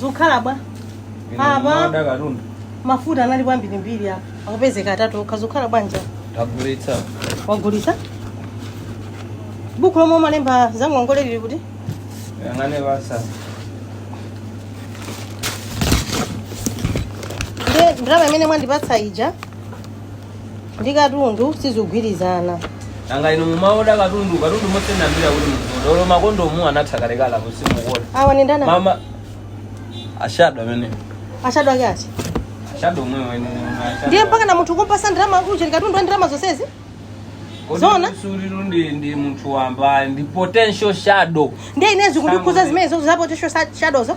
zukhala bwa Apa mafuta anali kwambirimbiri apa akupezeka atatu okha zukhala bwanja tagulitsa wagulitsa buku lomwe umalemba za ngongole lili kuti yang'anani basi ndiye ndalama imene mwandipatsa ija ndi katundu sizikugwirizana nanga inu mumaoda katundu katundu moti ndambiri kuti mukuoda olo makondomu anatha kalekala simukuona awa ndi ndani mama ashado amene ashado ake ati ashado omwewo ndiye mpakana munthu kumpasa ndalama uja ndi katundu wa ndalama zonsezi Zona? suriru ndi ndi munthu wamba ndi potential shadow ndiye ine zikundikhudza zimene izozo za potential shadowzo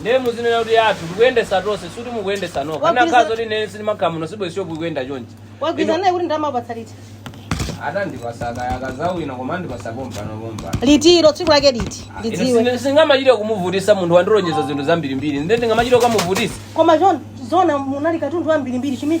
Nde muzinena kuti ndi yathu tikuyendesa tonse sikuti mukuyendesa nokha. Wagwiza- Kukanakhala zoti ine sindimakhala muno sibwe shop ikuyenda chonchi. mwagwirizana naye kuti ndalama akupatsa liti Ati andipasa akazawina koma andipasa pompano pompa. litilo tsiku lake liti lidziwe Ine sindingamachite kumuvutisa munthu wandilonjeza zinthu zambirimbiri. Nde ndingamachite kukamuvutisa. koma zona munali katundu wambirimbiri chimene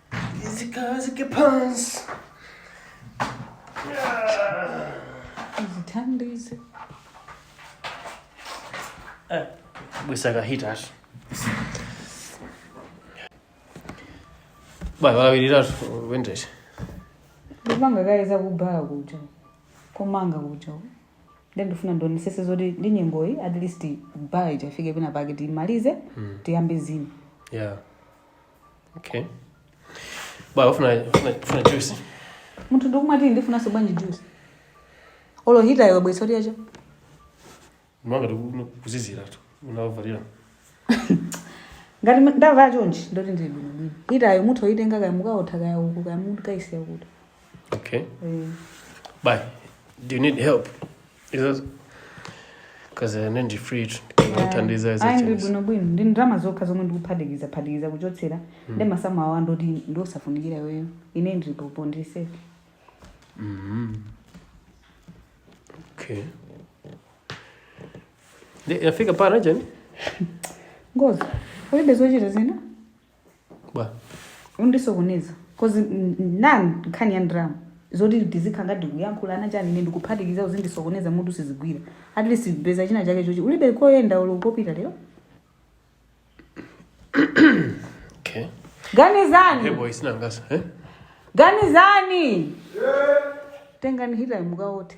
Zikhazike pansi. Zithandize. Eh, bweretsa ka hita tu. Bwana walawiriratu ku ntchito. Ndipange kaye zakubhala kuja. Komanga kuja. Ndiye ndifuna ndionesese zoti ndi nyengoyi at least bhala ija ifike pena pake timalize tiyambe zina. Yeah. okay bwa ufuna ufuna ufuna juice munthu ndikumati ndifunanso bwanji juice olo hitayo abwesa kuti yacho mwa ngati kukuziziratu unavalira ngati ma- ndavala chonchi ndoti ndili bwinobwino hitayo mutha oyitenga kaya mukaotha kaya uku kaya mukaisiya kuti okay Eh, bye do you need help because uh, ndi free ndikuthandiza ayi ndili bwinobwino ndi ndalama zokha zomwe ndikuphatikizaphatikiza kuchotsera ndi masamu awa ndoti ndiosafunikira iweyo ine ndili popo ndili safe Mhm. okay Ndi- inafika pa ngani ngozi ulibe zochita zina bwa undisokoneza cause n- n- ndi nkhani ya ndalama zoti ndizikhala ngati kuyankhulana chani ine ndikuphatikiza uzindisokoneza mutu sizigwira at least peza chinachake chochita ulibe koyenda olo kopita lero okay ganizani hebo isinangasa eh ganizani tengani hita mukaote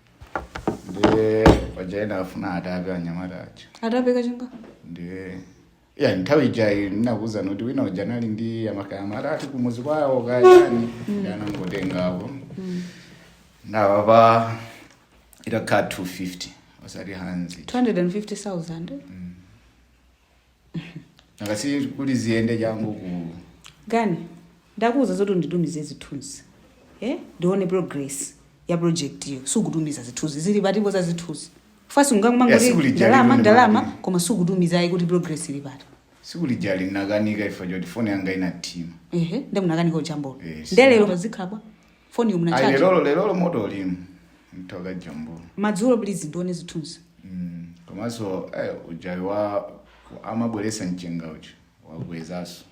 ndiye paja ena afuna atape anyamata acho atape kachinga ndiye ya nthawi ijayi ndinakuwuzani kuti wina uja anali ndi amakayamata ati kumuzi kwawo kayani anangotengapo ndawapa itakwana 250 osati hanzi 250000 akasi kuti ziyende changu uku Ganizani ndinakuuza zoti unditumize zithunzi eh? ndione progress ya project iyo sukutumiza zithunzi zili pati ipo za zithunzi first Yeah, ungakumangoti sikuli jali ndalama imene ndalama mapili. koma sukutumiza ayi kuti progress ili pati sikulijali nakanika chifukwa choti foni yanga inathima ehe nde munakanika ujambula Yes. nde lero pazikhabwa foniyo munaicharge lerolo lerolo moto ulimu nditha kajambula madzulo please ndione zithunzi Mm, komanso eh, ujayu wa amabweretsa mchenga uja wakwezaso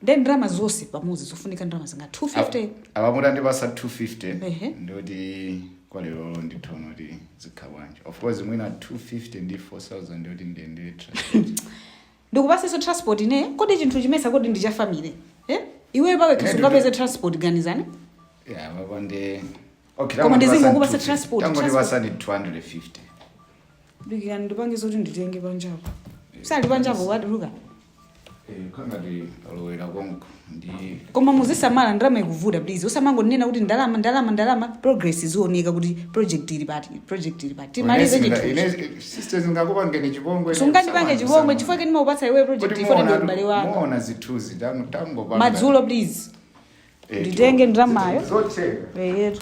nde ndalama zonse pamodzi zofunika ndalama zingati 250 apa mutandipasa 250 Ehe. nde kuti kwa lerolo ndithono kuti zikha bwanji of course mwina 250 ndi 4000 ndikuti ndiyendere transport ndikupaseso transport ine kodi chinthu chimenechi kodi ndi cha family eh iwe pawekha Ine sungapeze transport Ganizani iya baba ndi okay Koma tangu ndizingo ndipasani kupasa 250. transport, tangu transport. ndipasani 250 dikirani ndipange zoti nditenge panjapo sali panjapo wadiluka Eh, kanga ndi alowera konko ndi koma muzisamala ndalama ikuvuta please usamangonena kuti ndalama ndalama ndalama progress izioneka kuti project ili pati project ili pati timalize chinthu sisters ngakupangeni chipongwe sungandipange chipongwe chifukwa chake ndimakupatsa iwe project Kuti iwe ndi muona- m'bale wanga muona zithunzi tamu- tangopanga. madzulo please Eh, nditenge tiwo- ndalamayo. zotenga. eyetu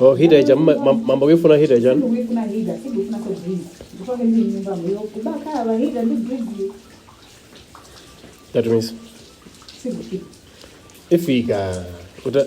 Oh, hita icha mma- mam- mambo kuyifuna hita icha that means ifika uta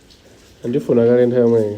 Ndifuna kale nthawi yomweyo.